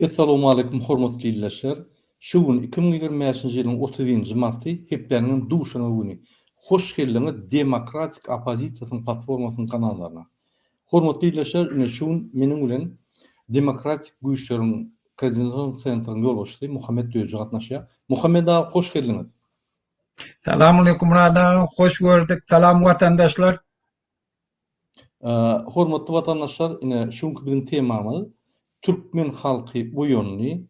Essalamualeýkum hormatly ildeşler! Şu gün iki müň ýigrimi bäşinji ýylyň otuz njy marty, hepdäniňem duşenbe güni. Hoş geldiňiz Demokratik oppozisiýasynyň platformasynyň kanallaryna. Hormatly ildeşler, ine şu gün meniň bilen Demokratik güýçleriň Koordinasion sentryň ýolbaşçysy Muhammet Döji gatnaşýar. Muhammet aga hoş geldiňiz! Salam aleýkum Murad aga, hoş gördük. Salam watandaşlar. Hormatly watandaşlar ine şu günki biziň temamyz Türkmen halky oýandy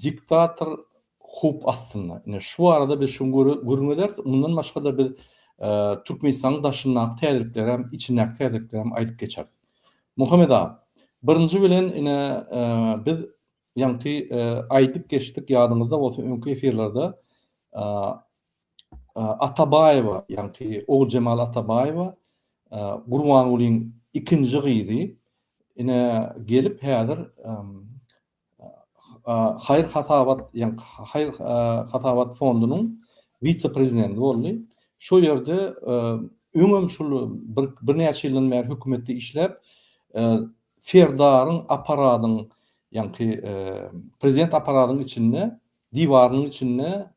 diktator howp astynda. Ine şu barada biz şu gün gürrüň ederis. Mundan başga-da biz Türkmenistanyň daşyndaky täzelikleri hem içindäki täzelikleri hem aýdyp geçeris. Muhammet aga birinji bilen ine biz ýaňky aýdyp geçdik ýadyňyzda bolsa öňki efirlerde Atabaýewa, ýaňky Oguljemal Atabaýewa, Gurbangulyň ikinji gyzy, ine, gelip häzir haýyr-hasabat, ýaňky haýyr-hasabat fondunyň wise-prezidenti boldy. Şo ýerde öňem şul birnäçe ýyldan bäri hökümetde işläp, Serdaryň apparadyň, ýaňky prezident apparadyň içinde, diwarynyň içinde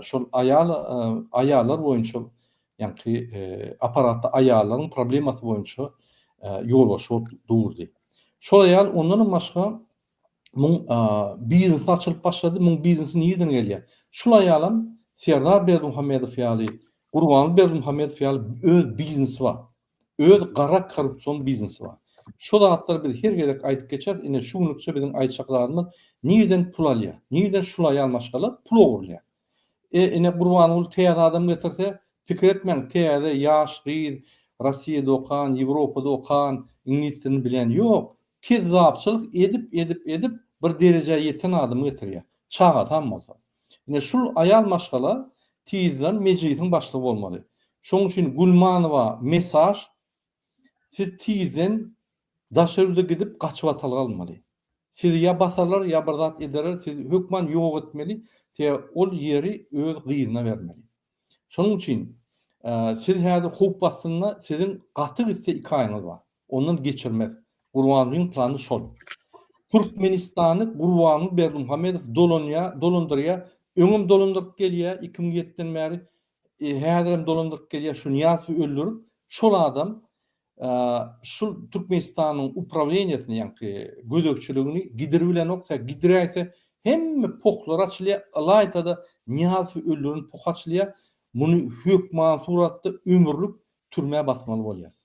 şol aýal aýallar boýunça ýaňky apparatda aýallaryň problemasy boýunça ýolbaşçy bolup durdy. Şol aýal ondanam başga muň biznes açylyp başlady, muň biznesi nireden gelýär? Şul aýalam Serdar Berdimuhamedow ýaly, Gurbanguly Berdimuhamedow ýaly öz biznesi bar. Öz gara korrupsion biznesi bar. Şo zatlary biz her gezek aýdyp geçeris, ine şu günlükçe biziň aýtjak zadymyz nirden pul alýar, nirden şul aýal maşgala pul ogurlaýar. E ine Gurbanguly täze adam getirse, pikir etmäň täze ýaş gyz, Rossiýada okan, Ýewropada okan, iňlis dilini bilen ýok, kezzapçylyk edip edip edip bir derejä ýeten adamy getirýär, çagasam bolsa. Ine şul aýal maşgala tizden mejlisiň başlygy bolmaly. Şoň üçin Gulmanowa mesaž siz tizden daşary ýurda gidip gaçyp atalga almaly. Sizi ýa basarlar ýa bir zat ederler sizi hökman ýok etmeli sebäbi ol ýeri öz gyzyna bermeli. Şonuň üçin siz häzir howp astynda siziň gaty gitse iki aýyňyz bar. Ondan geçirmez. Gurbangyň plany şol. Türkmenistany Gurbangy Berdimuhamedow dolanýar, dolandyrýar. Öňem dolandyryp gelýär iki müň ýetiden bäri. Häzirem dolandyryp gelýär şu Nyýazowy öldürip. Şol adam Şul Türkmenistanyň uprawleniýesini ýaňky gözegçiligini gidirbilenok tä gidiräýse hemme pohlar açylýa ylaýtada Nyýazowy öldüren poh açylýa muny hökman suratda ömürlik türmä basmaly bolýas.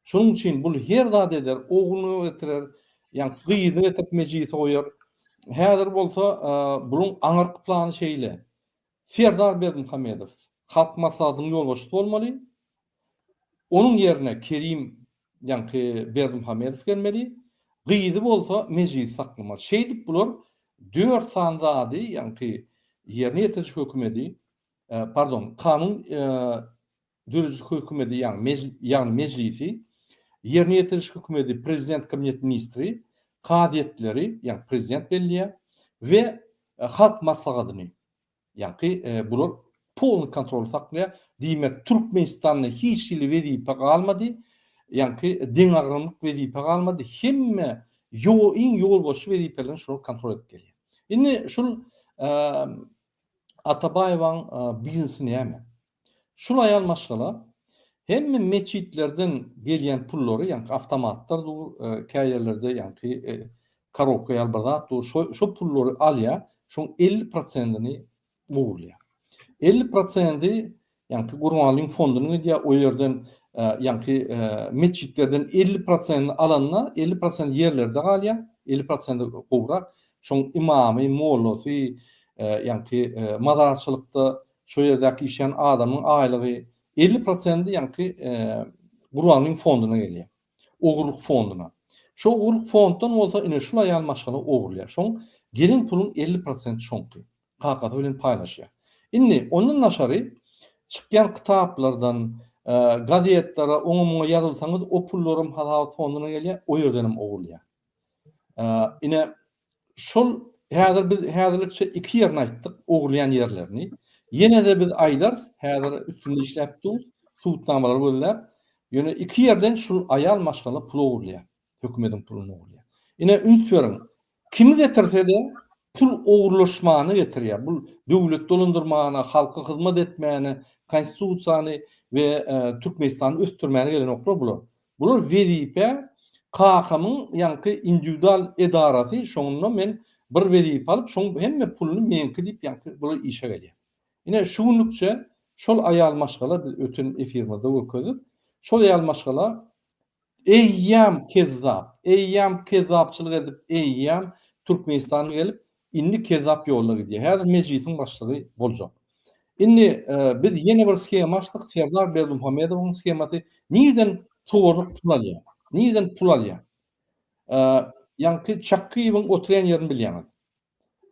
Şonuň üçin bul her zat eder ogluny getirer ýaňky gyzyny getirip mejlise goýar häzir bolsa buluň aňyrky plany şeýle Serdar Berdimuhamedow Halk Maslahatynyň ýolbaşçysy bolmaly, onuň ýerine Kerim ýaňky Berdimuhamedow gelmeli, gyzy bolsa Mejlisi saklamaly. Şeýdip bular dört sany zady, ýaňky ýerine ýetiriji hökümedi, pardon, kanun Dörediş hökümeti ýagny Mejlisi, Ýerine ýetiriş hökümeti Prezident Kabineti Ministri, kazyýetleri ýagny Prezident belleýär we Halk Maslahatyny ýagny bular polny kontroly saklaýar. Diýmek Türkmenistanda hiç hili wezipe galmady ýagny deňagramlyk wezipe galmady hemme iň ýolbaşçy wezipelerini şular kontrol edip gelýär. Indi şul Atabaýewaň biznesy näme? Şul aýal maşgala hemme metjitlerden gelýän pullary ýaňky awtomatlar dur kä ýerlerde ýaňky karobka ýaly bir zat dur şo pullary alýa şoň elli prosentini ogurlýa elli prosendi ýaňky gurbanlygyň fondyna gidýa o ýerden ýaňky metjitlerden elli prosentini alanda elli prosent ýerlerde galýa elli prosenti gowrak şoň ymamy mollasy ýaňky mazarçylykda Şo ýerdäki işleýän adamyň aýlygy elli prosenti ýaňky gurbanlygyň fonduna gelýär. Ogurlyk fonduna. Şo ogurlyk fonddan bolsa ine şul aýal maşgala ogurlaýar. Şoň gelen puluň elli prosenti şoňky. Kakasy bilen paýlaşýar. Indi ondan daşary çykýan kitaplardan, gazetlere, oňa-muňa ýazylsaňyz o pullaram hasabat fonduna gelýär, o ýerdenem ogurlaýar. Ine, şol häzir biz häzirlikçe iki ýerini aýtdyk, ogurlaýan ýerlerini. Ýene-de biz aýdarys, häzir üstünde işläp durus, subutnamalary gözläp. Ýöne iki ýerden şul aýal maşgala pul ogurlaýar, hökümediň puluny ogurlaýar. Ine, üns beriň, kimi getirse-de, pul ogurlaşmany getirýär. Bu döwleti dolandyrmana, halka hyzmat etmäne, Konstitusiýany we Türkmenistany ösdürmäne gelenoklar bular. Bular wezipe kakamyň ýaňky indiwidual edarasy şonda men bir wezipe alyp şoň hemme puluny meňki diýip ýaňky bular işe gelýär. Ine şu günlükçe şol aýal maşgala biz öten efirimizde görkezdik. Şol aýal maşgala eýýäm kezzap, eýýäm kezzapçylyk edip eýýäm Türkmenistana gelip Indi kezzap ýoluna gidýär. Häzir mejlisiň başlygy boljak. Indi biz ýene bir shema açdyk, Serdar Berdimuhamedowyň shemasy. Nireden towarlyk pul alýar? Nireden pul alýar? Ýaňky Çakgyýewiň oturýan ýerini bilýäňiz.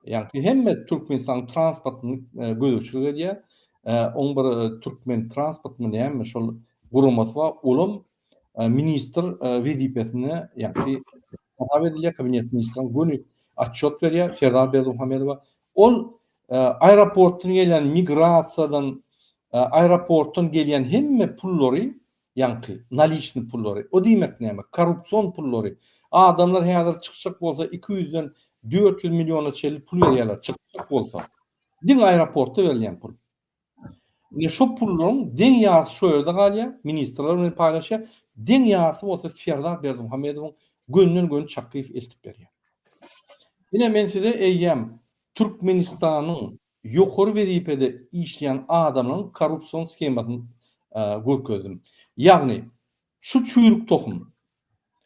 Ýaňky hemme Türkmenistanyň transportyny gözegçilik edýär. Oň bir Türkmen transportmy näme şol guramasy bar, olam ministr wezipesine ýa-da hasap edilýär, kabinet ministriniň göni otçýot berýär, Serdar Berdimuhamedowa. Ol aeroportdan gelýän migrasiýadan, aeroportdan gelýän hemme pullary, ýaňky naliçni pullary, o diýmek näme, korrupsion pullary, adamlar häzir çykjak bolsa iki ýüzden dört ýüz milliona çenli pul berýärler, çykjak bolsa, diňe aeroportda berilýän pul. Indi şo pullaryň deň ýarysy şo ýerde galýar, ministrler bilen paýlaşýar, deň ýarysy bolsa Serdar Berdimuhamedowyň gönden-göni Çakyýew eltip berýär. Ine men size eýýäm Türkmenistanyň ýokary wezipede işleýän adamlaryň korrupsion shemasyny görkezdim. Ýagny Şu çüýrük tohum.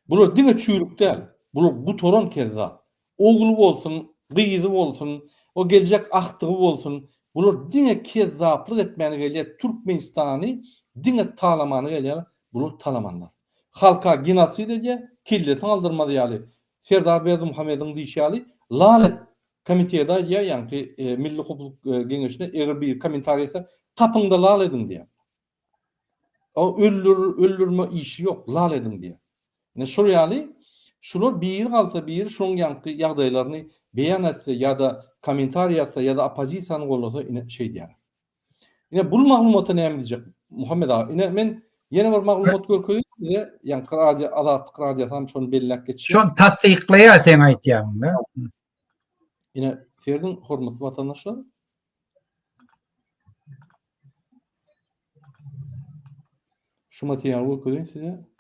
Bular diňe çüýrük däl, bular gutaran kezzap. Ogly bolsun, gyzy bolsun, o geljek agtygy bolsun, bular diňe kezzaplyk etmäne gelýär, Türkmenistany diňe talamana gelýär, bular talamanlar. Halka genosid edýär, kellesini aldyrmaz ýaly, Serdar Berdimuhamediň diýşi ýaly, lal et, komiteti aýdýar, ýaňky Milli howpsuzlyk geňeşine eger biri kommentariý etse, tapyňda lal ediň diýýär. O öldür, öldürme işi ýok, lal ediň diýýär. Ine şol ýaly şular biri galsa biri şoň ýaňky ýagdaýlaryny beýan etse ýa-da kommentariý ýazsa ýa-da oppozisiýany gollasa ine şeýdýärler. Ine bul maglumata näme diýjek Muhammet aga? Ine men ýene bir maglumat görkezeýin size, ýaňky radio Azatlyk radiosy hem şony belläp geçýär. Şony tassyklaýar seň aýtýanyňy. Ine serediň hormatly watandaşlar. Şu materialy görkezeýin size.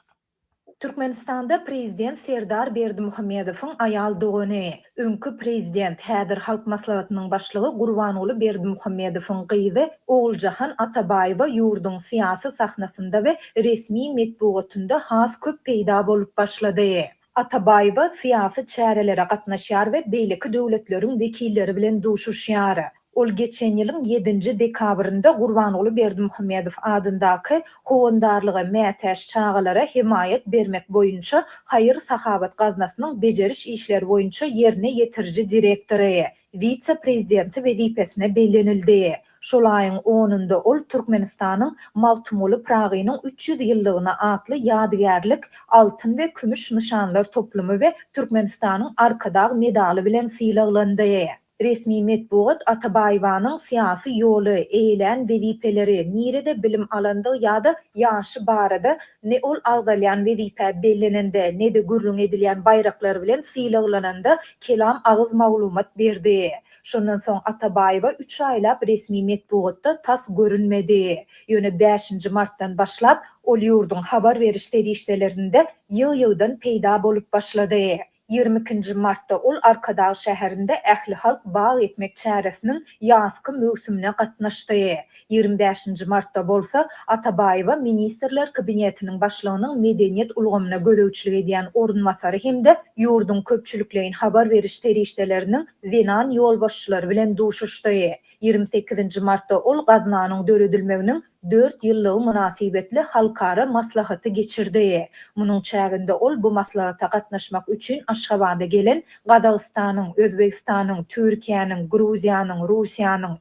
Türkmenistanda prezident Serdar Berdimuhamedowyň aýal dogany, öňki prezident, häzir Halk Maslahatynyň başlygy Gurbanguly Berdimuhamedowyň gyzy Oguljahan Atabaýewa ýurduň syýasy sahnasynda we resmi metbugatynda has köp peýda bolup başlady. Atabaýewa syýasy çärelere gatnaşýar we beýleki döwletleriň wekilleri bilen duşuşýar. Ol geçen ýylyň ýedinji dekabrynda Gurbanguly Berdimuhamedow adyndaky Howandarlyga mätäç çagalara hemaýat bermek boýunça haýyr-sahawat gaznasynyň bejeriş işleri boýunça ýerine ýetiriji direktory, wise-prezidenti wezipesine bellenildi. Şol aýyň onunda ol Türkmenistanyň Magtymguly Pyragynyň üç ýüz ýyllygyna atly ýadygärlik altyn we kümüş nyşanlar toplumy we Türkmenistanyň Arkadag medaly bilen sylaglandy. Resmi metbugat Atabaýewanyň syýasy ýoly, eýelän wezipeleri, nirede bilim alandygy ýa-da ýaşy barada ne ol agzalýan wezipä bellenende, ne-de gürrüň edilýän baýraklar bilen sylaglananda kelam agyz maglumat berdi. Şondan soň Atabaýewa üç aýlap resmi metbugatda tas görünmedi. Ýöne bäşinji martdan başlap, ol ýurduň habar beriş serişdelerinde ýygy-ýygydan peýda bolup başlady. Ýigrimi ikinji martda ol Arkadag şäherinde ählihalk bag ekmek çäresiniň ýazky möwsümine gatnaşdy. Ýigrimi bäşinji martda bolsa Atabaýewa Ministrler Kabinetiniň Başlygynyň medeniýet ulgamyna gözegçilik edýän orunbasary hem-de ýurduň köpçülikleýin habar beriş serişdeleriniň zenan ýolbaşçylary bilen duşuşdy. Ýigrimi sekizinji martda ol gaznanyň döredilmeginiň dört ýyllygy mynasybetli halkara maslahaty geçirdi. Munuň çäginde ol bu maslahata gatnaşmak üçin Aşgabada gelen Gazagystanyň, Özbegistanyň, Türkiýäniň, Gruziýanyň, Russiýanyň,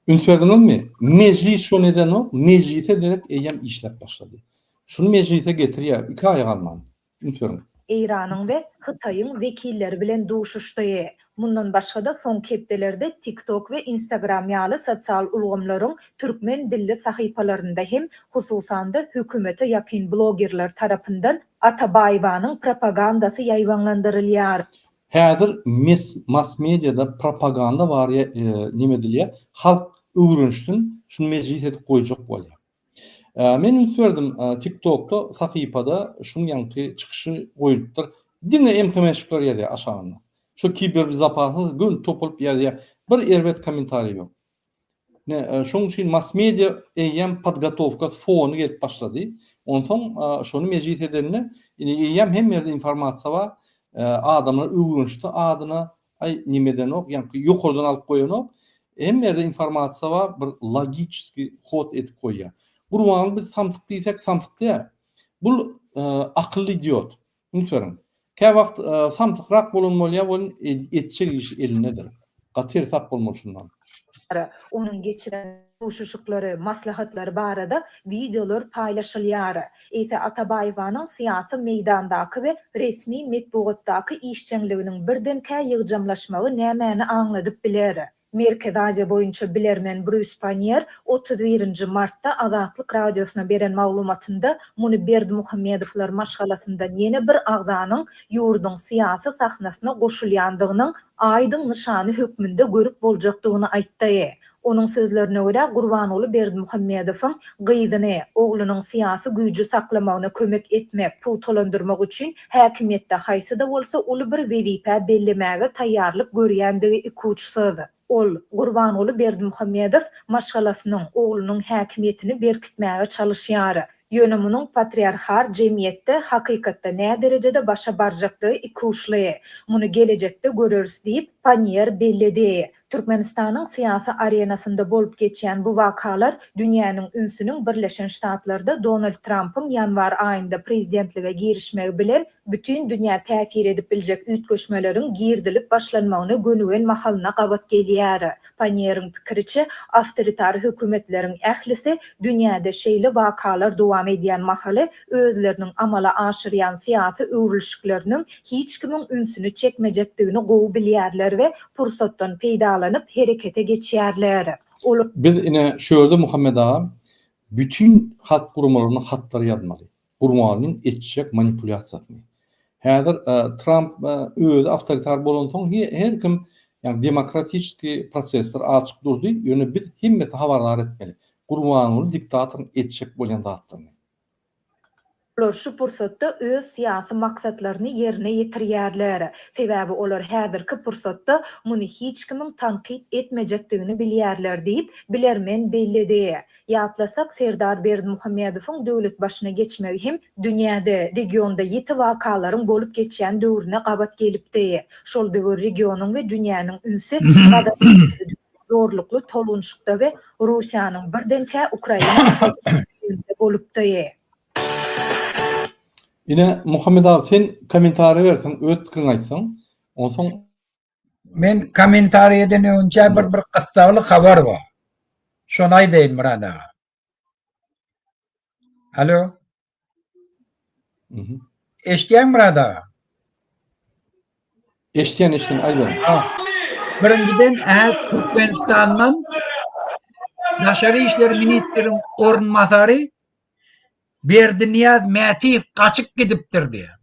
Ünsediňizmi? Mejlis şony edenok, mejlise derek eýýäm işläp başlady. Şuny mejlise getirýär, iki aýa galman. Ünsediň. Eýranyň we Hytaýyň wekilleri bilen duşuşdy. Mundan başga-da soňky hepdelerde TikTok we Instagram ýaly sosial ulgamlaryň türkmen dilli sahypalarynda hem, hususan-da, hökümete ýakyn blogerler tarapyndan Atabaýewanyň propagandasy ýaýbaňlandyrylýar. Häzir mes massmediada propaganda bar ýa neme edilýär halk öwrenişsin şuny mejlis edip goýjak bolýar. Men üns berdim tiktokda sahypada şuň ýaňky çykyşy goýlupdyr diňe emkmenşikler ýazýar aşagynda şo kiberbizopasnyz gön topulyp ýazýar bir erbet komentariý ýok. Şonuň üçin mass-media eýýäm podgotowka fony gelip başlady. Onsoň şony mejlis edende, indi eýýäm hemme ýerde informasiýa bar. Adamlar öwrenişdi adyna, aý nimedenok, ýaňky ýokardan alyp goýanok. Hemme ýerde informasiýa bar, bir logiçeski hod edip goýýar. Gurbanguly biz samsyk diýsek samsyk däl. Bul akylly idiot. Nökerim. Kä wagt samsykrak bolan bolýar, ol etjek işi elindedir. Gaty ersap bolmaly şundan. Ara, onuň geçiren duşuşyklary, maslahatlary barada wideolar paýlaşylýar. Eýse Atabaýewanyň syýasy meýdandaky we resmi metbugatdaky işjeňliginiň birdenkä ýygjamlaşmagy nämäni aňladyp biler? Merkezi Aziýa boýunça bilermen Brýus Panniýer otuz birinji martda Azatlyk Radiosyna beren maglumatynda muny Berdimuhamedowlar maşgalasyndan ýene bir agzanyň ýurduň syýasy sahnasyna goşulýandygynyň aýdyň nyşany hökmünde görüp boljakdygyny aýtdy. Onuň sözlerine görä, Gurbanguly Berdimuhamedowyň gyzyny, oglunyň syýasy güýji saklamagyna kömek etmek, pugtalandyrmak üçin Häkimiýetde haýsy-da bolsa uly bir wezipä bellemäge taýýarlyk görýändigi ikuçsyz. Ol, Gurbanguly Berdimuhamedow maşgalasynyň, oglunyň häkimiýetini berkitmäge çalyşýar. Ýöne munuň patriarhal jemgyýetde hakykatda näderejede başa barjakdygy ikuçly. Muny gelejekde göreris diýip, Panniýer belledi. Türkmenistanyň syýasy arenasynda bolup geçýän bu wakalar dünýäniň ünsüniň Birleşen Ştatlarda Donald Trampyň ýanwar aýynda prezidentlige girişmegi bilen bütin dünýä täsir edip biljek üýtgeşmeleriň girdilip başlanmagyna gönügen mahalyna gabat gelýär. Pannieriň pikiriçe, awtoritar hökümetleriň ählisi dünýäde şeýle wakalar dowam edýän mahaly özleriniň amala aşyrýan syýasy öwrülişikleriniň hiç kimiň ünsüni çekmejekdigini gowy bilýärler we pursatdan peýdalanyp herekete geçýärler. Ol. Biz ine şu ýerde Muhammet aga bütin halk guramalaryna hatlar ýazmaly. Gurbanlyň etjek manipulýasiýasyny. Häzir Tramp özi awtoritar bolansoň her kim ýagny demokratiçeskiý prosesler açyk durdy, ýöne biz hemmesini habardar etmeli. Gurbanguly diktatoryň etjek bolýan zatlaryny. Olar şu pursatda öz syýasy maksatlaryny ýerine ýetirýärler. Sebäbi olar häzirki pursatda muny hiç kimiň tankyt etmejekdigini bilýärler diýip, bilermen belledi. Ýatlasak, Serdar Berdimuhamedowyň döwlet başyna geçmegi hem dünýäde, regionda ýiti wakalaryň bolup geçýän döwrüne gabat gelipdi. Şol döwür regionyň we dünýäniň ünsi Gazada düşüpdi. zorlukly tolgunşykda we Russiýanyň birdenkä Ukraina çöküşinde bolupdy. Ine Muhammet aga sen kommentariýa ber soň öz pikiriňi aýtsaň onsoň. Men kommentariýadan öňçä bir bir gyssagly habar bar. Şony aýdaýyn Myrat aga. Alo. Mhm. Eşdýäň Murad aga? Eşdýän eşdýän aýdýan. Birinjiden äh Türkmenistandan Daşary işler ministriň orunbasary Berdinýaz Mätiýew gaçyp gidipdir diýýär.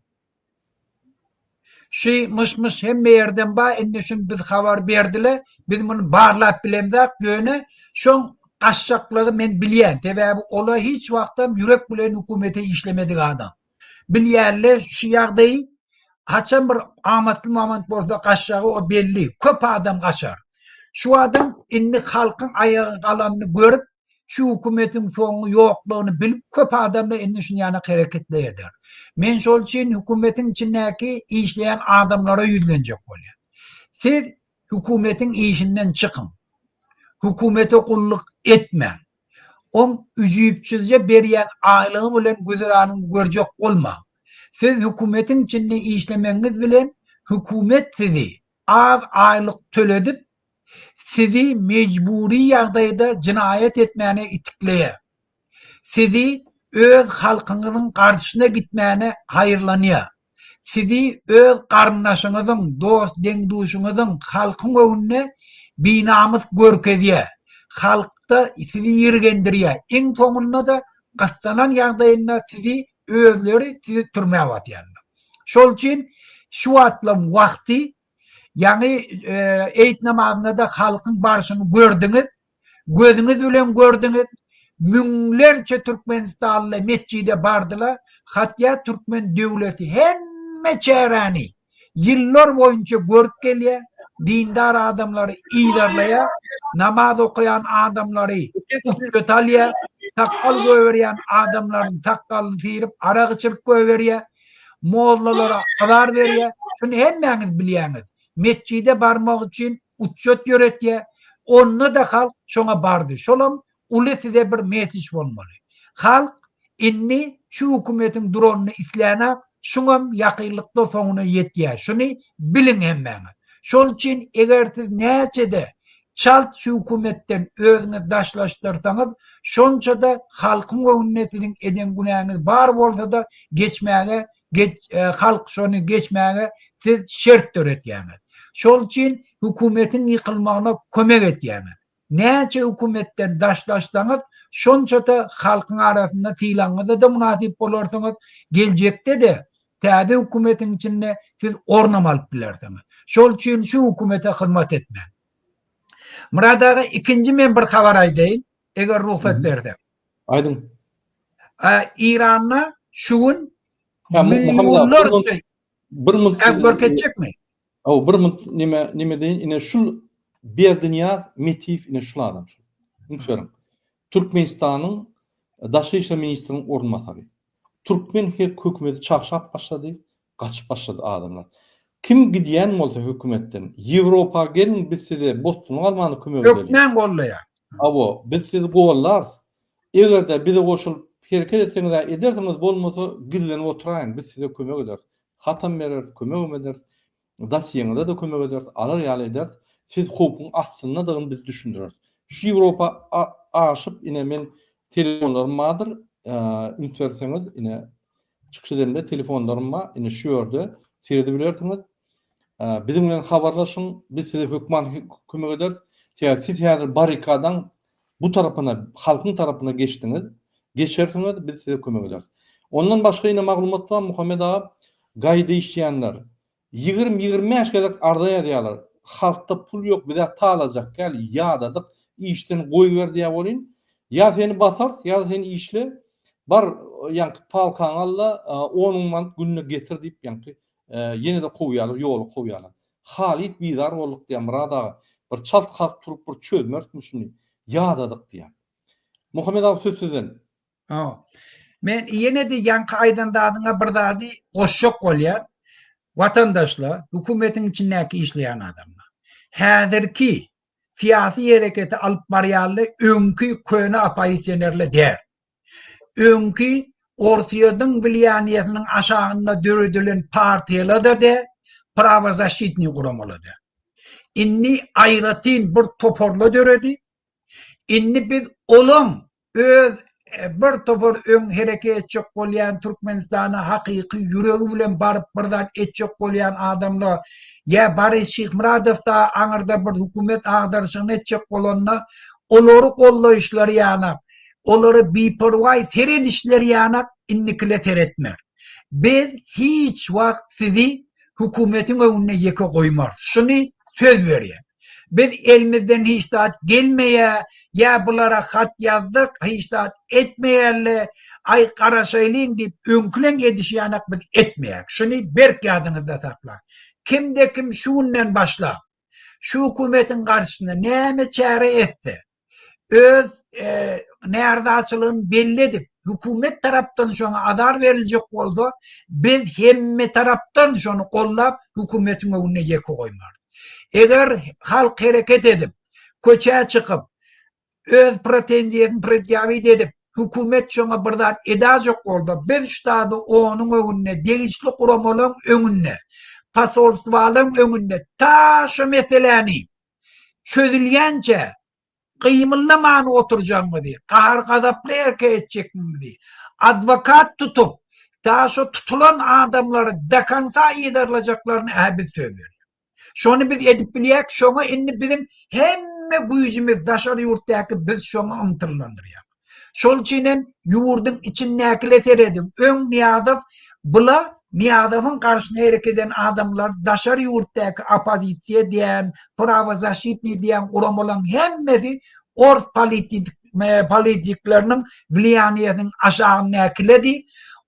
Şy myş myş hemme ýerden ba indi şun biz habar berdile biz muny barlap bilemzak ýöne şoň gaçjaklygy men bilýän sebäbi ola hiç wagtam ýürek bilen hökümete işlemedik adam bilýänle şu ýagdaýy haçan bir amatly mamant bolsa gaçjagy o belli köp adam gaçar şu adam indi halkyň aýaga galanyny görüp şu hökümetiň soňy ýoklugyny bilip köp adamlar indi şun ýana hereketleýärler. Men şol üçin hökümetiň içindäki işleýän adamlara ýüzlenjek bolýan. Siz hökümetiň işinden çykyň. Hökümete gulluk etmäň. Oň üjüpsizje berýän aýlygy bilen güzeranyňy görjek bolmaň. Siz hökümetiň içinde işlemegiňiz bilen hökümet sizi az aýlyk töledip, sizi mejbury ýagdaýda jenaýat etmäne itikleýär. Sizi öz halkyňyzyň garşysyna gitmäne haýyrlanýar. Sizi öz garyndaşyňyzyň, dost-deň-duşuňyzyň halkyň öňünde binamys görkezýär. Halkda sizi ýirgendirýär. Iň soňunda-da gyssanan ýagdaýynda sizi Özleri sizi türmä basýarlar. Şol üçin şu wagtlaň wagty, ýaňy eýit namazynda-da halkyň barşyny gördüňiz, gözüňiz bilen gördüňiz, müňlerçe türkmenistanly metjide bardylar, hatýa türkmen döwleti hemme çäräni, ýyllar boýunça görüp gelýär, dindar adamlary yzarlaýar, namaz okaýan adamlary uçjat alýar, sakgal goýberýän adamlaryň sakgalyny syryp, arak içirip goýberýär, mollalara azar berýär, şuny hemmäňiz bilýäňiz. Metjide barmak üçin uçjat ýöretýär, onda-da halk şoňa bardy, şolam Uly size bir mesej bolmaly. Halk indi şu hökümetiň duranyny islänok, şuňam ýakynlykda soňuna ýetýär, şuny biliň hemmäňiz. Şol üçin eger siz näçede çalt şu hökümetden özüňiz daşlaşdyrsaňyz, şonçada halkyň göwnüne siziň eden günäňiz bar bolsada geçmäge halk şony geçmäge siz şert döretýäňiz. Şol üçin hökümetiň ýykylmagyna kömek etýäňiz. Näçe hökümetden daşlaşsaňyz, şonça-da halkyň arasynda sylagyňyza-da mynasyp bolarsyňyz, geljekde-de täze hökümetiň içinde siz ornam alyp bilersiňiz. Şol üçin şu hökümete hyzmat etmäň. Myrat aga, ikinji men bir habar aýdaýyn, eger rugsat berseň. Aýdyň. Eýranda şu gün millionlarça... Bir minut... Görkezjekmi? Hawa bir munt nime nime deýin ine şul Berdinyýaz Metiýew ine şul adam şul. Üns beriň. Türkmenistanyň daşary işler ministriniň orunbasary. Türkmen her hökümeti çagşap başlady, gaçyp başlady adamlar. Kim gidýän bolsa hökümetden Ýewropa geliň biz size bosduna galmanda kömek edeliň. Hökmän gollaýar. Hawa biz sizi gollarys. Eger-de bize goşulyp hereket etseňiz-ä edersiňiz bolmasa gizlenip oturaýyň biz size kömek ederis. Hatam bereris, kömegem ederis. Dosýeňize-de kömek ederis, alar ýaly ederis. Siz howpuň astyndadygyny biz düşündireris. Şu Ýewropa aşyp, ine, men telefonlarym bardyr, üns berseňiz, ine, çykyş edemde telefonlarym bar, ine, şu ýerde seredibilersiňiz. Biziň bilen habarlaşyň, biz size hökman kömek ederis. Sebäbi siz häzir barrikadaň Bu tarapyna, halkyň tarapyna geçdiňiz, geçersiňiz, biz size kömek ederis. Ondan başga ine maglumat bar Muhammet aga, gaýda işleýänler ýigrimi, ýigrimi bäş gezek arza ýazýarlar, halkda pul ýok, bizä talajak gel, ýadadyk, işden goýber diýä welin, ýa seni basarys, ýa-da sen işle, bar ýaňky paltaňy al-da, on müň manat günde getir diýip, ýaňky ýene-de kowýarlar, ýola kowýarlar. Halys bizar bolduk diýýär Myrat aga. Bir çalt kalk turup bir çözmerismi şuny. Ýadadyk diýýär. Muhammet aga söz sizden. Hawa. Men ýene-de ýaňky aýdan zadyňa bir zady goşjak bolýan. Watandaşlar, hökümetiň içindäki işleýän adamlar. Häzirki syýasy hereketi alyp barýanlar öňki köne oppozisionerler däl. Öňki Orsýetiň wlýaniýesiniň aşagynda döredilen partiýalarda de, prawozaşitniý guramalada. Indi aýratyn bir toparla döredi. Indi biz olaň öz bir topar öň hereket etjek bolýan Türkmenistana hakyky ýüregi bilen baryp bir zat etjek bolýan adamlar ýa Boris Şyhmyradow da aňyrda bir hökümet agdaryşyny etjek bolanda olary goldaýyşlary ýanap Olara biperwaý seredişleri ýanak indikile seretme. Biz hiç wagt sizi hökümetiň öňünde ýeke goýmarys. Şuny söz berýän. Biz elimizden hiç zat gelmeýä, ýa bulara hat ýazdyk, hiç zat etmeýärle, aý garaşaýlyň diýip öňkileň edişi ýanak biz etmeýäs. Şuny berk ýadyňyzda saklaň. Kimde-kim şu günden başlap şu hökümetiň garşysyna näme çäre etse, öz närazaçylygyny belli edip, hökümet tarapdan şoňa azar beriljek bolsa, biz hemmetarapdan şony goldap, hökümetiň öňünde ýeke goýmarys. Eger halk hereket edip, köçä çykyp, öz pretenziýasyny predýawit edip, hökümet şoňa bir zat edäýjek bolsa, biz şu zady onuň öňünde, degişli guramalaryň öňünde, posolstwalaryň öňünde, ta şu meseläni, çözülýänçä gymyldaman oturjagyňyzy, gahar-gazaply erke etjegiňizi, adwokat tutup, ta şo tutulan adamlary dokonca yzarlajaklaryny-hä biz söz berýäs. Şony biz edip bilýäris, şoňa indi biziň hemme güýjümiz, daşary ýurtdaky biz şoňa ymtylylandyrýar. Şol üçin hem ýurduň içindäkile serediň. Öň Nyýazow bula Nyýazowyň garşyna hereket eden adamlar daşary ýurtdaky oppozisiýa diýen, prawozaşitnyý diýen guramalaryň hemmesi ors polititmpolitikleriniň wliýaniýesiniň aşagyndäkiledi,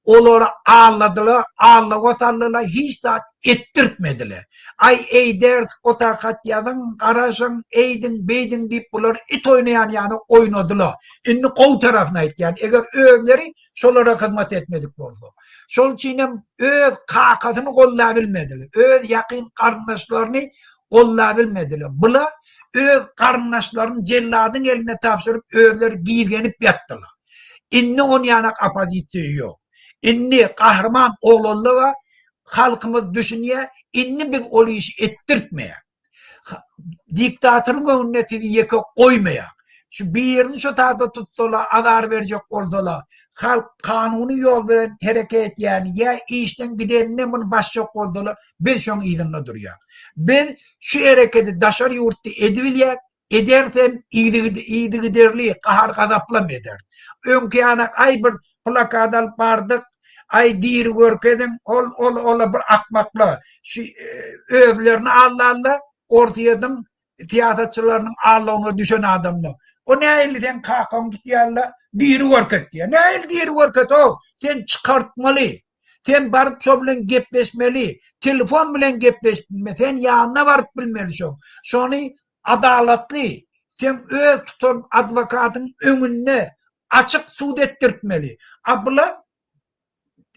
olary aldadylar, aldawa saldylar, hiç zat etdirtmediler. Aý, eýders, ota hat ýazyň, garaşyň, eýdiň, beýdiň diýip bular it oýnaýan ýaly oýnadyla. Indi gowy tarapyny aýtýan, eger özleri şolara hyzmat etmedik bolsa. Şol üçinem öz kakasyny gollabilmedile, öz ýakyn garyndaşlaryny gollabilmedile. Bula öz garyndaşlaryny jelladyň eline tabşyryp özleri gizgenip ýatdyla. Indi onýanak opozisiýa ýok. Indi Gahryman Oglanlyga halkymyz düşünýär, indi biz ol işi etdirtmeýäs. Diktatoryň öňünde sizi ýeke goýmaýas. Şu birini şu taýda tutsalar, azar berjek bolsalar, halk kanuny ýol bilen hereket etýäni ýa işden gidenine muny basjak bolsalar, biz şoň yzynda durýas. Biz şu hereketi daşary ýurtda edibilýäs, Edersem, yzygiderli gahar-gazaplam eder. Öňki ýana aý bir plakat alyp bardyk, aý diri görkeziň, ol, ol, ola bir akmakla, şu özlerini aldanda, Orsýetiň syýasatçylarynyň aldawyna düşen adamla. O nähili seň kakaň tutýarla, diri görket diýýär. Nähili diri görket-ow, sen çykartmaly. Sen baryp şo bilen gepleşmeli. Telefon bilen gepleşip bilme. Sen ýanyna baryp bilmeli şoň. Şony adalatly, sen öz tutan adwokatyň öňünde açyk sud etdirtmeli. A bula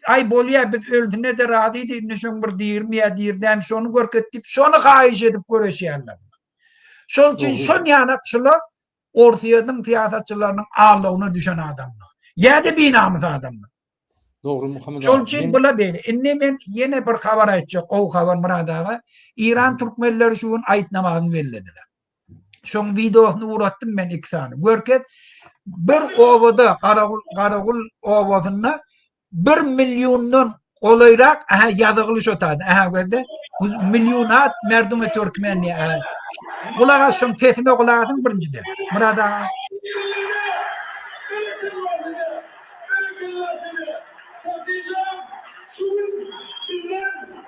Aý bolýa biz ölsine-de razydy indi şoň bir dirmýä dirdämi şony görket diýip şony haýyş edip göreşýärler. Şoň üçin şon ýanakçylar Orsýetiň syýasatçylarynyň aldawyna düşen adamdyr. Ýa-da binamys adamdyr. Dogry Muhammet aga. Şol üçin bula beýle. Indi men ýene bir habar aýtjak, gowy habar Myrat aga. Eýran türkmenleri şu gün aýt namazyny bellediler. Şoň wideosyny uratdym men iki sany. Görkez, bir obada, Garagul, Garagul obasynda bir milliondan golaýrak aha ýazygyly şo taýda aha gözde millionat merdum et türkmen diýä gulak as şoň sesine gulak asyň birinjiden murad aga şu gün bizden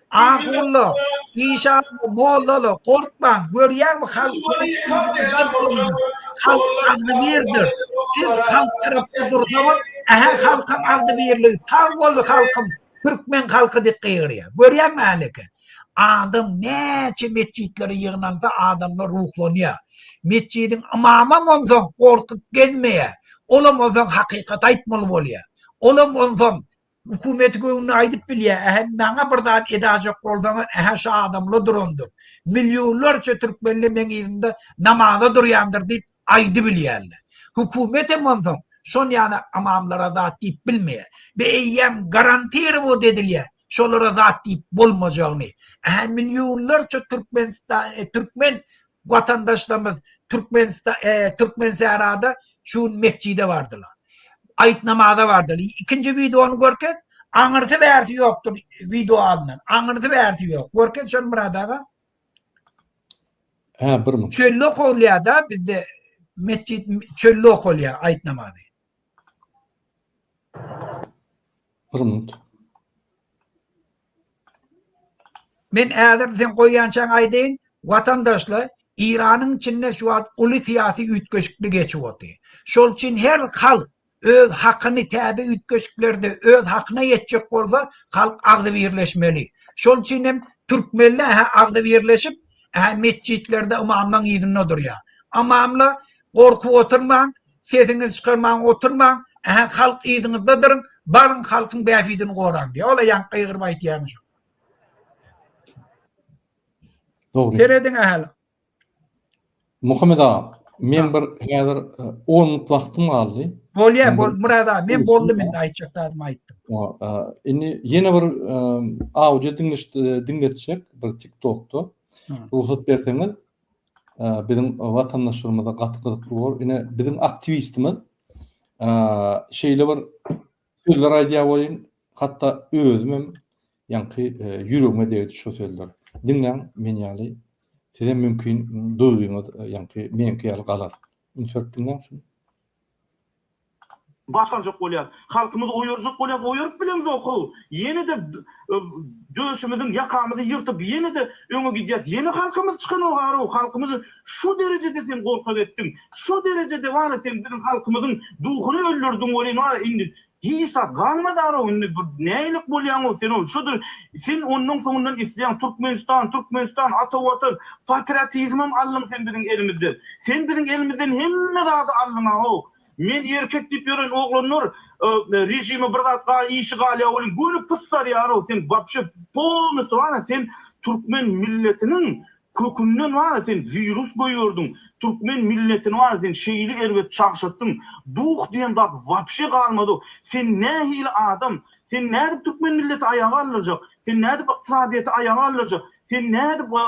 Ahulla, işanly, mollaly, gorkmaň, görýäňmi, halk halk agzybirdir. Siz halk tarapda dursaňyz, ähä halkyň agzybirligi, sag bol halkym, türkmen halky diýip gygyrýar. Görýäňmi häleki? Adam näçe metjitlere ýygnansa, adamlar ruhlanýar. Metjidiň ymamam onsoň gorkup gezmeýär. Olam onsoň hakykaty aýtmaly bolýar. Olam onsoň Hökümeti göwnüne aýdyp bilýär, ähä maňa bir zat edajak bolsaňyz, ähä şo adam la durandyr. Millionlarça türkmenli meň yzymda namaza durýandyr diýip aýdybilýärler. Hökümet hem onsoň şon ýaly amamlara zat diýip bilmeýär. Be eýýäm garantirowat edilýär şolara zat diýip bolmajagyny. Ähä millionlarça türkmenistan, türkmen watandaşlarymyz Türkmensährada şu gün metjide bardylar. Aýyt namaza bardylar. Ikinji wideony görkez. Aňyrsy bärsi ýokdur wideo alnan. Aňyrsy bärsi ýok. Görkez şony Murad aga. Ha, bir minut. Çölle okulýada bizde metjid çölle okulýa aýyt namazy. Bir minut. Men häzir seň goýýançaň aýdaýyn, watandaşlar, Iranyň içinde şu wagt uly syýasy üýtgeşiklik geçip otyr. Şol üçin her halk öz hakyny täze üýtgeşiklerde öz hakyna ýetjek bolsa, halk agzybirleşmeli. Şol üçin hem türkmenler hä agzybirleşip, hä metjitlerde ymamlaň yzynda durýar. Ymamlar, gorkup oturmaň, sesiňizi çykarmaň oturmaň ähä halk yzyňyzda duruň baryň halkyň bähbidini goraň diýýär ola ýaňky gygyryp aýtýany şu Dogry. Serediň ähli. Muhammed aga, men bir häzir 10 e, minut wagtym galdy. Bolýa, bol Murad aga, men boldum indi aýtjak zadymy aýtdym. E, indi ýene bir e, audio diňleşdi diňletjek bir TikTokda. Rugsat berseňiz, biziň watandaşlarymyza gaty gyzykly bolar. Ine biziň aktiwistimiz şeýle bir sözler aýdýar welin, hatda özüm hem ýaňky e, ýüregime degdi şu sözler. Diňläň men ýaly size mümkin duýgyňyz e, ýaňky meňki ýaly galar. Ünsürip diňläň şunu. Başarjak bolýar. Halkymyz oýarjak bolýar, oýaryp bilemzok how. Ýene-de döşümiziň ýakamyzy ýyrtyp ýene-de öňe gidýäs. Ýene halkymyz çykanok arow. Halkymyzy şu derejede sen gorkak etdiň. Şu derejede wara sen biziň halkymyzyň duhuny öldürdiň welin wara indi Isa, galma daro indi bir nälik bolýaňow sen ol şudur sen ondan soňundan isleýäň Türkmenistan Türkmenistan ata watan patriotizmem aldyň sen biziň elimizden sen biziň elimizden hemme zady aldyňa ho men erkek diýip ýören oglanlar režime bir zat gal işi galýa welin göni pysarýarow sen wapşe polnystwana sen Türkmen milletiniň Kökünden wara sen wirus goýberdiň, türkmen milletini wara sen şeýle erbet çagşatdyň, duh diýen zat wapşe galmady, sen nähili adam, sen nädip türkmen milleti aýaga galdyrjak, sen nädip ykdysadyýeti aýaga galdyrjak, sen nädip we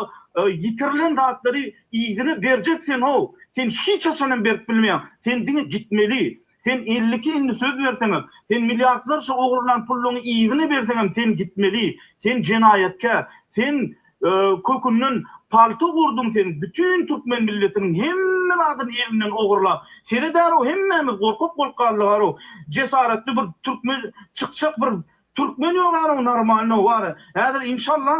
ýitirilen zatlary yzyna berjek sen how, sen hiç haçanam berip bilmeýäň, sen diňe gitmeli, Sen elli iki indi söz berseňem, sen milliardlarça ogurlan pulluňy yzyna berseňem sen gitmeli, sen jenaýatkär, sen kökünden palta gurduň sen bütin türkmen milletiniň hemme zadyny elinden ogurlap seredäro hemmämiz gorkak bolup galdygaro jesaretli bir türkmen çykjak bir türkmen ýogarow normalno wara häzir inşallah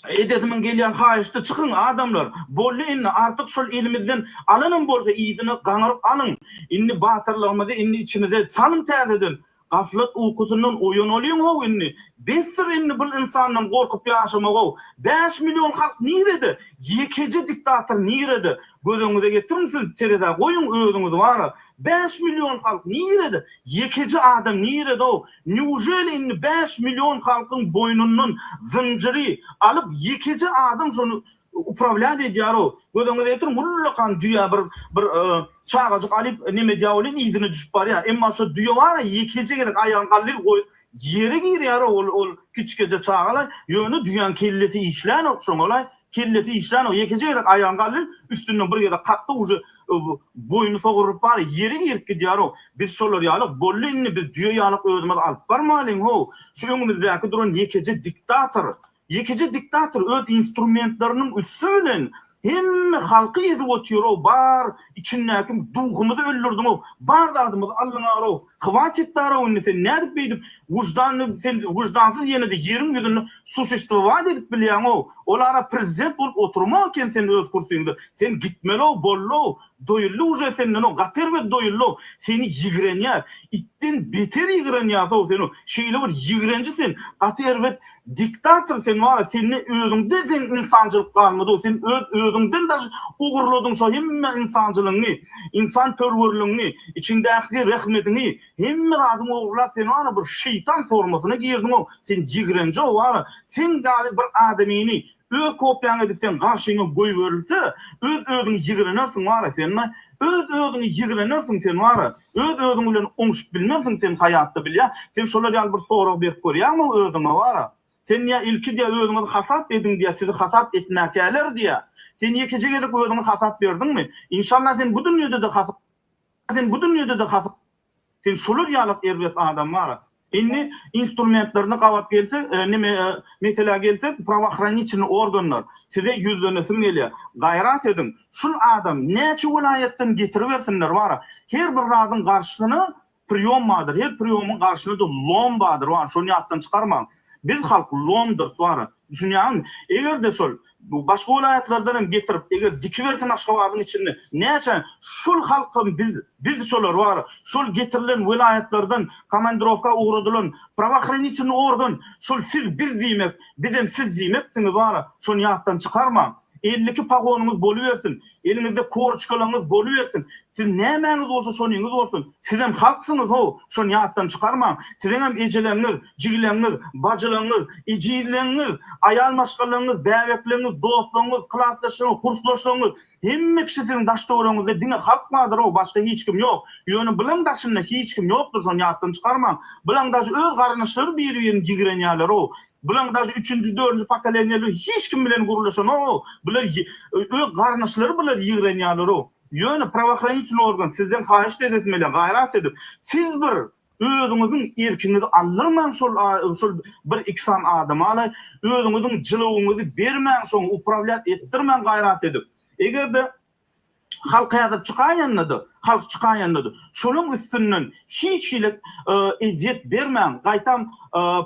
Edesimin gelýän haýyşdy çykyň adamlar bolly indi artyk şol elimizden alanam bolsa yzyna gaňyryp alyň indi batyrlygymyzy indi içimize salyň täzeden gaflat ukusyndan oýanalyň how indi besdir indi bul ynsandan gorkup ýaşamak how bäş million halk nirede ýekeje diktator nirede gözeňize getiriň siz terezä goýuň özüňizi bara bäş million halk nirede ýekeje adam nirede how Neujeli indi bäş million halkyň boýnundan zynjyry alyp ýekeje adam şony uprawlýat edýäro göz öňüňize getiriň ullakan düýä bir bir çagajyk alyp neme edýä welin yzyna düşüp barýa emma şo düýe bara ýekeje gezek aýagyny gallyl goýup ýere girýäro ol ol kiçikeje çagalaý ýöne düýäň kellesi işlänok şoňalaý Kellesi işlänok, ýekeje gezek aýagyny galdy, üstünden bir gezek kakdy, uje boýny sogrulyp bar, ýeri girip gidýärok. Biz şolar ýalyk, bolly indi biz düýe ýalyk özümiz alyp barmalyň-how, şu öňümizdäki duran ýekeje diktator, ýekeje diktator öz instrumentleriniň üsti bilen hemme halky ezip otyr-ow, bar içindäki duhumyzy öldürdiň-ow, bar zadymyzy aldyňar-ow, Hwatit daraw indi sen nädip beýdip wyždanly sen wyždansyz ýenede ýeriň ýüzünde suşestwowat edip bilýäňow ol ara prezident bolup oturmak eken sen öz kursiňde sen gitmelow bollow doýuldy uje sendenow gaty erbet doýullow seni ýigrenýäs itden beter ýigrenýäsow senow şeýle bir ýigrenji sen gaty erbet Diktator sen wara sende özüňde sen ynsançylyk galmadyg sen öz özüňden daş ogurladyň şo hemme ynsançylygyňy ynsan perwerligiňi içiňdäki rehmediňi hemme zadyňy ogurlap sen wara bir şeýtan formasyna girdiňow sen ýigrenjew wara seň ýaly bir adamyny Öz kopýaňy edip seň garşyňa goýberilse, öz-özüňi ýigrenersiň wara sen, maý. Öz-özüňi ýigrenersiň sen wara. Öz-özüň bilen oňşup bilmersiň sen haýatda bilýä. Sen şolar ýaly bir sorag berip görýäňmi özüňe wara? Sen diýä ilki diýä özüňizi hasap ediň diýä sizi hasap etmäkäler diýä. Sen ýekeje gezek özüňi hasap berdiňmi? Inşallah sen bu dünýede-de hasap sen bu dünýede-de hasap Sen şular ýalak erbet adam bar. Indi instrumentlerini gabat gelse, nime meselä gelse, prawohraniçilny organlar size ýüzlenesim gelýä. Gaýrat ediň, şul adam näçe welaýatdan getiribersinler bar. Her bir zadyň garşysyna priýom bardyr, her priýomyň garşysyna-da lom bardyr bar, şony ýatdan çykarmaň. Biz halk lomdur suara. Düşünýäňizmi? Egerde şol başga welaýatlardan hem getirip eger dikibersen Aşgabadyň içinde näçe şul halkam biz biz şolar bar şol getirilen welaýatlardan komandirowka ugradylan prawohranitelny organ şul siz biz diýmek bizem siz diýmeksiňiz bar şony ýatdan çykarmaň elli iki pagonyňyz bolubersin eliňizde koroçkalaňyz bolubersin Siz nämäňiz bolsa şonyňyz bolsun. Sizem halksyňyz-how, şony ýatdan çykarmaň. Siziňem ejeleňňiz, jigileňňiz, bajylaňňiz, ejizleňňiz, aýal maşgalaňňiz, bäbekleňňiz, dostlaňňiz, klasdaşlaňňiz, kursdaşlaňňiz, hemme kişi siziň daş-töweregiňizde diňe halk bardyr-how, başga hiç kim ýok. Ýöne bulaň daşynda hiç kim ýokdur, şony ýatdan çykarmaň. Bulaň daş öz garyndaşlary biri-birini ýigrenýärler-how. Bulaň daş üçünji, dördünji pokoleniýaly hiç kim bilen gürleşenok-how. Bular öz garyndaşlary bular ýigrenýärler-how. Ýöne prawohranitçny organ sizden haýyşt edesmele gaýrat edip, siz bir özüňiziň erkiňizi aldyrmaň şol şol bir iki san adamala özüňiziň jylawyňyzy bermäň şoňa uprawlýat etdirmäň gaýrat edip. Egerde halk häzir çykaýanda-da, halk çykaýanda-da şolaň üstünden hiç hili ezýet bermäň, gaýtam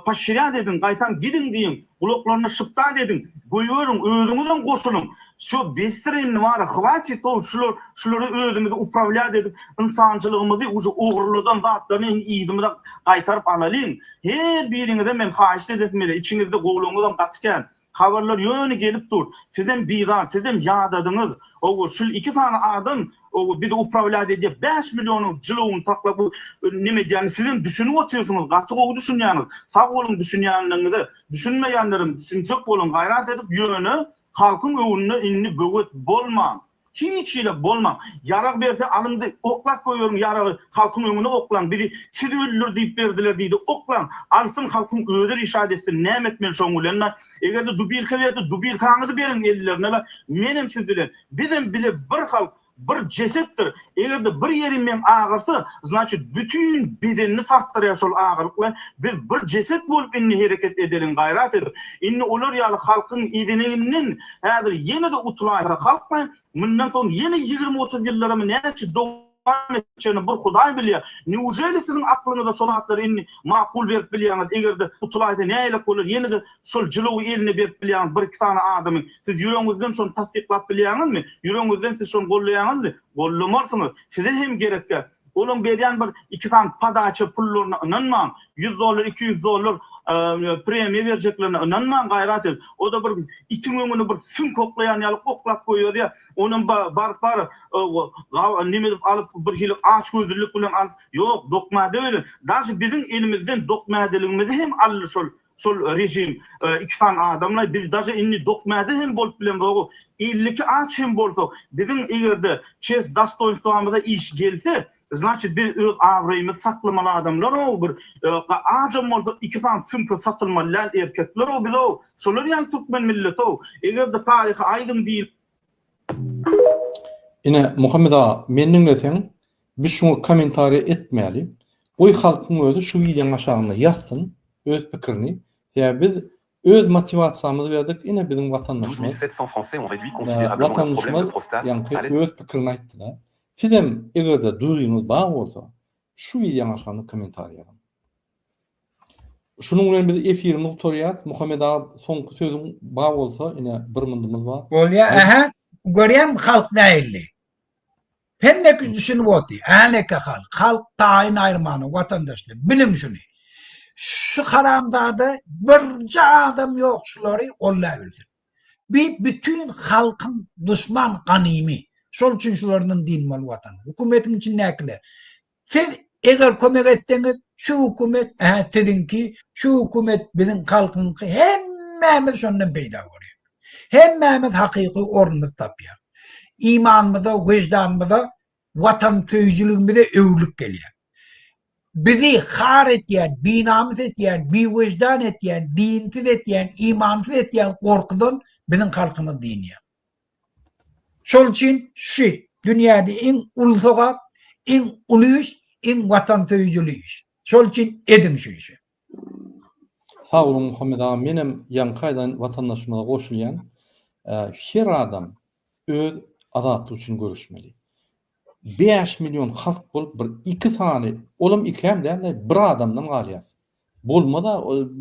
poşirýat ediň, gaýtam gidiň diýiň, Gulaklaryny şypdan ediň, goýberiň, özüňizem goşulyň. Şo, besdir indi wara, hwatit ol, şular, şulara özümizi uprawlýat edip, ynsançylygymyzy, uje ogurladan zatlaryny indi yzymyza gaýtaryp alalyň. Her biriňize men haýyşt edesim gelýär, içiňizde gowulygyňyzam gaty kän. Habarlar ýöne gelip dur. Sizem bizar, sizem ýadadyňyz. Hawa, şul iki sany adam Ow biz uprawlýat edýäs bäş millionyň jylawyny saklap neme edýäni sizem düşünip otyrsyňyz gaty gowy düşünýäňiz sag boluň düşünýänligiňize düşünmeýänlerem düşünjek boluň gaýrat edip ýöne halkyň öňünde indi böwet bolmaň hiç hili bolmaň ýarag berse alyndy oklap goýberiň ýaragy halkyň öňüne oklaň bizi siz öldür diýip berdiler diýdi oklaň alsyn halkyň özi rişat etsin näme etmeli şoň bilen Eger-de dubirka berdi, dubirkaňyzy beriň ellerine we menem siz bilen. Bizem bile bir halk, bir jesetdir. Eger-de bir ýeri meň agyrsa, znaçit bütin bedenini sarsdyrýar şol agyryk we biz bir jeset bolup indi hereket edeliň, gaýrat edip. Indi olar ýaly halkyň ezineginden häzir ýene-de utulaýsa halkmy? Mundan soň ýene ýigrimi-otuz ýyllaramy näçe dow. Ýagny, çeni bir Hudaý bilýär. Neujeli siziň aklyňyza şo zatlary indi makul berip bilýäňiz? Eger-de utylaýsa nälelik bolar? Ýene-de şol jylawy eline berip bilýäňiz bir-iki sany adamyň? Siz ýüregiňizden şony tassyklap bilýäňizmi? Ýüregiňizden siz şony gollaýaňyzmy? Gollamarsyňyz. Size hem gerekkä? Olaň berýän bir iki sany podaça pullaryna ynanmaň. Ýüz dollar, iki ýüz dollar premiýa berjeklerine ynanmaň gaýrat edip. O-da bir itiň öňüni bir süňk oklaýan ýaly oklap goýberýär. Onam ba, baryp bar, o, ga, neme edip alyp, bir hili açgözlülik bilen alyp, ýok, dokmäde welin, daşy biziň elimizden dokmädeligimizi hem aldy şol, şol režim, e, iki sany adamlaý, biz daşy indi dokmäde hem bolup bilemzoguk, elli iki aç hem bolsak, biziň eger-de çest dostoýnstwamyza iş gelse, Znaçit biz öz abraýymyzy saklamaly adamlarow bir ajam bolsa iki sany sumka satylmaly däl erkeklerow bizow şolar ýaly türkmen milletow egerde taryhy aýdyň diýip Ine Muhammet aga men diňleseň biz şuňa kommentariýa etmäli goý halkyň özi şu wideoň aşagynda ýazsyn öz pikirini sebäbi biz Öz motiwasiýamyzy berdik, ine biziň watandaşymyz, watandaşymyz ýaňky öz pikirini aýtdyda. Sizem egerde duýgyňyz bar bolsa şu wideoň aşagyna kommentariý ýazyň. Şunuň bilen biz efirimizi gutarýas. Muhammet aga soňky sözüň bar bolsa ine bir myndymyz bar. Bolýa ähä görýäň halk nähilli. Hemmekiz düşünip oty, häneke halk, halk taýyn aýyrmana watandaşlar, biliň şuny. Şu haramzada birje adam ýok şulary gollaýbilsin. Bi bütin halkyň duşman ganymy. Şol üçin şulardan dynmaly watan. Hökümetiň içindäkiler, Siz eger kömek etseňiz, şu hökümet, hä, siziňki, şu hökümet biziň halkyňky hemmämiz şondan peýda görýäs. Hemmämiz hakyky ornumyzy tapýas. Imanymyza, wyždanymyza, watansöýüjiligimize öwrülip gelýär. Bizi har etýän, binamys etýän, biwyždan etýän, dinsiz etýän, imansyz etýän gorkudan biziň halkymyz dynýar. Şol üçin şu dünýäde iň uly sogap, iň uly iş, iň watansöýüjili iş. Şol üçin ediň şu işi. Sag boluň Muhammet aga menem ýaňky aýdan watandaşymyza goşulýan. Her adam öz azatlygy üçin göreşmeli. Bäş million halk bolup bir iki sany olam ikäm dälde bir adamdan galýas. Bolmaz-a,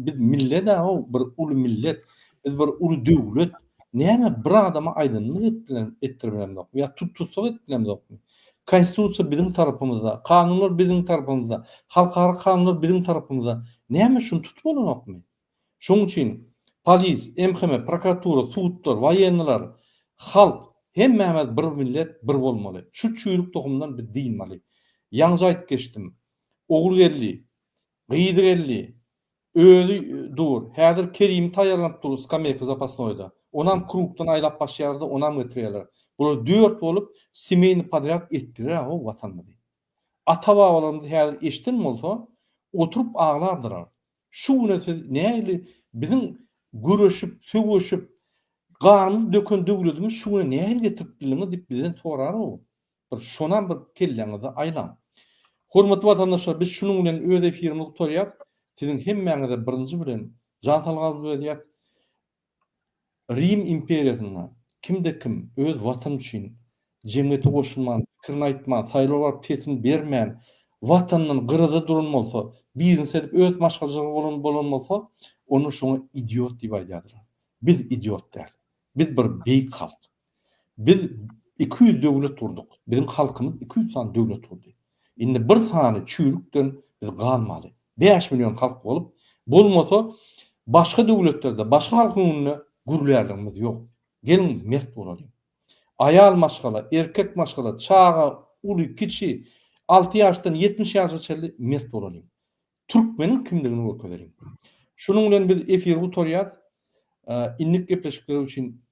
biz millet-ä o, bir uly millet, biz bir uly döwlet. Näme, bir adama aýdanymyz edip bilen, etdirip bilemzokmy? Ýa tut-tussag edip bilemzokmy? Konstitusiýa biziň tarapymyzda, kanunlar biziň tarapymyzda, halkara kanunlar biziň tarapymyzda. Näme, şuny tutup bolanokmy? Şonuň üçin polis, MHM, prokuratura, sudlar, woýenniler, halk, hemmämiz bir millet, bir bolmaly. Şu çüýrük tohumdan biz dynmaly. Ýaňja aýdyp geçdim. Ogulgeldi, Gyzy geldi. Özi dur. Häzir Kerimi taýýarlanyp dur skameyka zapasnoýda. Onam krugdan aýlap başýarda onam getirýärler. Bular dört bolup semeýny podrýad etdiler-ä-ow watanymyzy. Ata-babalarymyz häzir eşden bolsa, oturyp aglardylar. Şu güne siz nähili biziň göreşip, sögüşip, ganymyzy döken döwledimizi şu güne nähili getirip bildiňiz diýip bizden sorar-ow. Bir şonam bir kelleňizi aýlaň. Hormatly watandaşlar biz şunuň bilen öz efirimizi gutarýas. Siziň hemmäňize birinji bilen jan salgamyzy berýäs. Rim imperiýasynda kimde kim öz watany üçin jemgyýete goşulman, pikirini aýtman, saýlawa baryp sesini bermän, watanyndan gyrada duran bolsa, biznes edip öz maşgalajygy bolan bolsa, onda şoňa idiot diýip aýdýardylar. Biz idiot däl. Biz bir beýik halk. Biz iki ýüz döwlet gurdyk. Biziň halkymyz iki ýüz sany döwlet gurdy. Indi bir sany çüýrükden biz galmaly. Bäş million halk bolup, bolmasa başga döwletlerde, başga halkyň öňünde gürlärligimiz ýok. Geliň mert bolalyň. Aýal maşgala, erkek maşgala, çaga, uly, kiçi, alty ýaşdan ýetmiş ýaşa çenli mert bolalyň. Türkmeniň kimdigini görkezeliň. Şunuň bilen biz efiri gutarýas. Innik gepleşikler üçin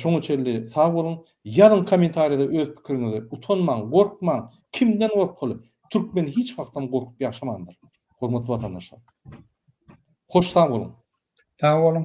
şoňa çenli sag boluň. Ýazyň kommentariýada öz pikiriňizi. Utanmaň, gorkmaň. Kimden gorkaly? Türkmen hiç wagtam gorkup ýaşamandyr. Hormatly watandaşlar. Hoş sag boluň. Sag boluň.